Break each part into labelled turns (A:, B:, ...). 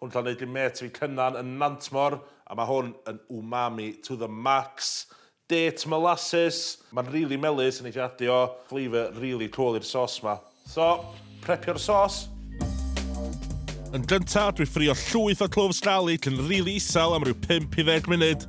A: Hwn cael neud i mêt fi Cynan yn Nantmor a ma hwn yn umami to the max. Date molasses. Ma'n rili melys a neith i adio flavour rili cwl i'r sos ma. So, prepio'r sos. Yn gynta, dwi ffrio llwyth o cloves garlic yn rili isel am ryw 5 i 10 munud.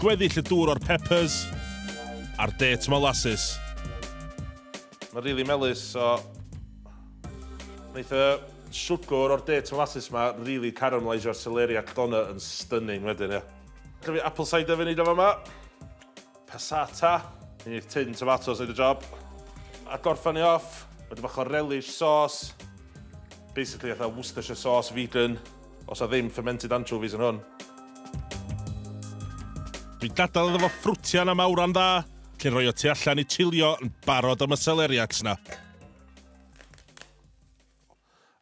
A: Gweddill y dŵr o'r peppers a'r date molasses. Mae'n rili melys, so... Wneith y siwgr o'r date molasses ma rili caramelaisio'r celeriac doner yn stunning wedyn, ie. Gaf fi apple cider fi wneud o fama. Passata. Mi neith tin tomatos wneud y job. A gorffan ni off, ma' dipyn bach o relish sauce. Basically fatha Worcestershire sauce vegan. Os a ddim fermented anchovies yn hwn. Dwi'n dadal iddo fo ffrwtian am awran dda, cyn roi o tu allan i chilio yn barod am y celeriacs na.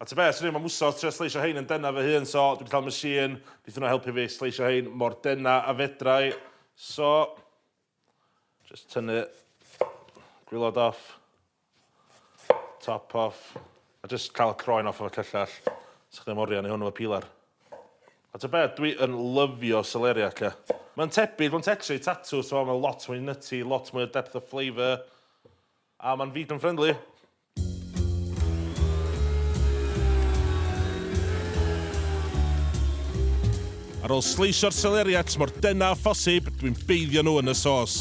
A: A ti beth, swn mae mwsos tre sleisio hein yn denna fy hun, so dwi'n cael machine, bydd hwnna helpu fi sleisio hein mor denna a fedrai. So, Jyst tynnu gwilod off, top off, a jyst cael y croen off efo cyllell. Sech chi'n morio ni hwn efo peeler. A ta beth, dwi yn lyfio celeriac, ia. Mae'n tebyg, mae'n tetri, tatws, mae'n lot mwy nutty, lot mwy o depth of flavour, a mae'n vegan friendly. Ar ôl sleisio'r seleriacs mor dynn â phosib, dwi'n beiddio nhw yn y sos.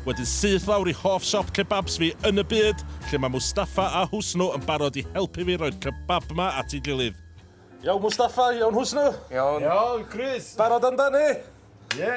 A: Wedyn syth lawr i hoff siop kebabs fi yn y byd, lle mae Mustafa a Husnu yn barod i helpu fi roi'r kebab 'ma at ei gilydd. Iawn Mustafa, iawn Husnu? Iawn. Iawn
B: Chris. Barod amdani?
A: Ie.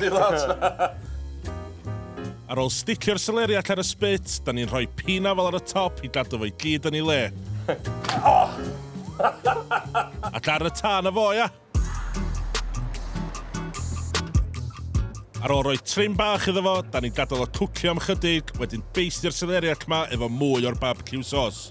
A: Dim ots! Ar ôl sticio'r seleri allan y spit, da ni'n rhoi pina fel ar y top i gadw fo i gyd yn ei le. Ac ar y tân a fo, ia? Ar ôl rhoi trim bach iddo fo, da ni'n gadael o cwcio am chydig, wedyn beistio'r seleri ac ma efo mwy o'r barbecue sauce.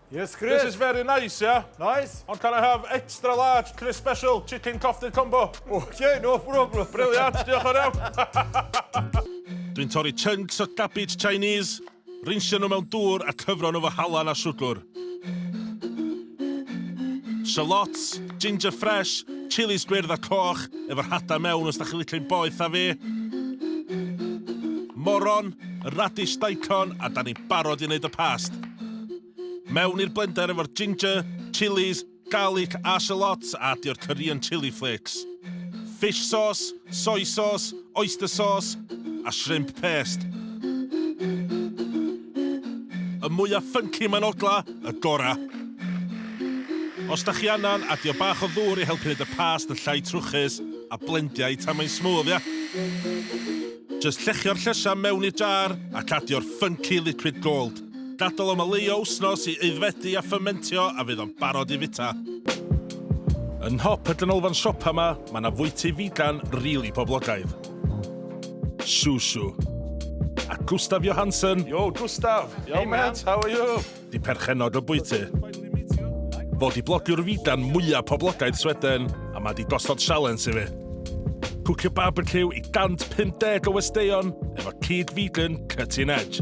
A: Yes, Chris. This is very
B: nice, yeah?
A: Nice. Ond can I
B: have extra
A: large Chris Special Chicken Coffee Combo? Okay, no problem.
B: Brilliant, diolch yn iawn.
A: Dwi'n torri chunks o cabbage Chinese, rinsio nhw mewn dŵr a cyfro nhw fo halan a siwgr. Shallots, ginger fresh, chilis gwyrdd a coch, efo'r hada mewn os da chi'n licio'n boeth a fi. Moron, radish daikon, a da ni'n barod i wneud y past. Mewn i'r blender efo'r ginger, chillies, garlic a shallots a addio'r curry and chilli flakes. Fish sauce, soy sauce, oyster sauce a shrimp paste. Y mwyaf ffynci mae'n ogla, y gora. Os da chi annan, adio bach o ddŵr i helpu neud y past yn llai trwchus a blendia i tan mae'n smooth, ia? Jyst llechio'r llysia mewn i'r jar ac addio'r ffynci liquid gold. Gadael o maleio wsnos i aeddfedu a ffyrmentio a fydd o'n barod i fita. Yn nhop y ganolfan siopa ma, ma na fwyty figan rili poblogaidd. Shushu. A Gustav Johansson. Yo Gustav! Hey mate, how are you? Di perchennog y bwyty. Fo di blogiwr figan mwya poblogaidd Sweden a ma di gosod sialens i fi. Cwcio barbeciw i 150 o westeion efo cig figan cutting edge.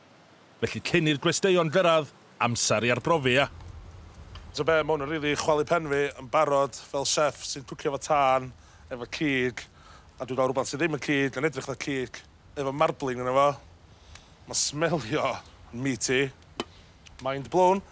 A: Felly cyn i'r gwesteion gyrraedd, amser i arbrofi, ia? T'o' be', ma' hwn yn rili chwalu pen fi yn barod fel chef sy'n cwcio efo tân, efo cig, a dwi ga'l rwbath sy ddim yn cig yn edrych fatha cig efo marbling yno fo. Ma'n smelio yn meaty. Mind blown.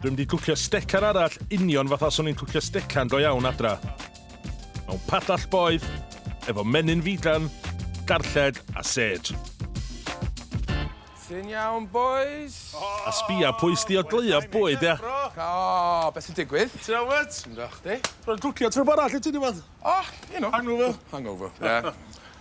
A: Dwi mynd i cwcio stecan arall union fatha swn i'n cwcio stecan go iawn adra. Mewn padall boeth, efo menyn figan, garlled a sêj.
C: Ti'n iawn bois? A sbia
A: pwy sdi o gleuo bwyd ia? O, be sy'n
C: digwydd? Ti'n iawn wyt? Ti'n da
A: chdi? Rwy'n
C: cwcio trwb arall
A: i ti diwedd. O, you know. Hangover.
C: Hangover,
A: ie.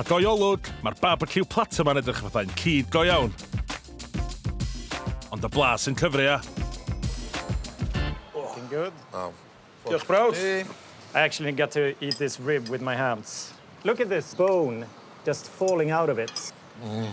A: A go olwg, mae'r barbeciw platter ma'n edrych fathau'n cig go iawn. Ond y blas yn cyfri ia. Looking
D: good. Oh. Diolch
C: brawd.
A: I actually
D: get to eat this rib with my hands. Look at this bone just falling out of it. Mm.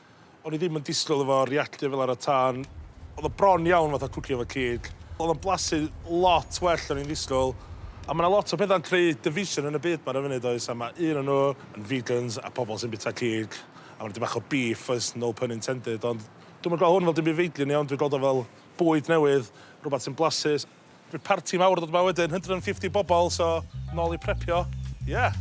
A: O'n i ddim yn disgwyl efo reactio fel ar y tân. Oedd o bron iawn fatha cwcio efo cig. Oedd o'n blasu lot well o'n i'n ddisgwyl. A ma' 'na lot o petha'n creu division yn y byd 'ma ar y funud does a ma' un o nhw yn vegans a pobl sy'n bita cig a ma' 'na dipyn bach o beef oes, no pun intended ond dwi'm yn gweld hwn fel dim byd feidlin iawn dwi'n gweld o fel bwyd newydd, rwbath sy'n blasus. Bydd parti mawr yn dod yma wedyn, 150 bobl, so nôl i prepio. Yeah!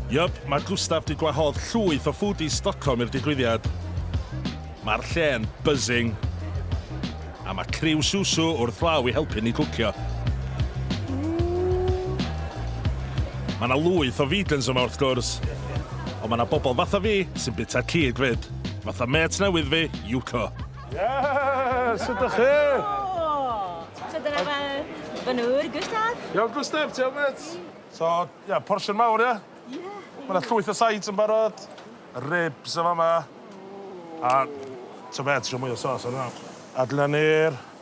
A: Yup, mae Gustaf 'di gwahodd llwyth o foodies Stockholm i'r digwyddiad. Mae'r lle'n buzzing. A mae criw Susu wrth law i helpu ni cwcio. Mae 'na lwyth o vegans yma wrth gwrs, ond mae 'na bobl fatha fi sy'n bwyta cig 'fyd. Fatha mêt newydd fi, Yuko. Yes! Sut ydych chi? Helo!
E: So dyna fy fy nŵr, Gustaf. Iawn Gustaf, ti iawn
A: mêt? So, ia, portion mawr ia? Ia. Ma' 'na llwyth o sides yn barod, ribs yn fama, a t'o' be', trio mwy o sos arno fo. A dyna ni'r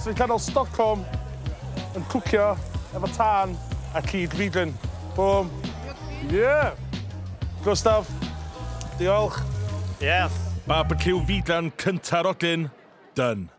A: Sy'n canol Stockholm yn cwcio efo tân a cig feedlin. Bum. Yeah! Gustaf, diolch. Yes. Barbeciw
D: feedlan
A: cynta'r odyn. Done.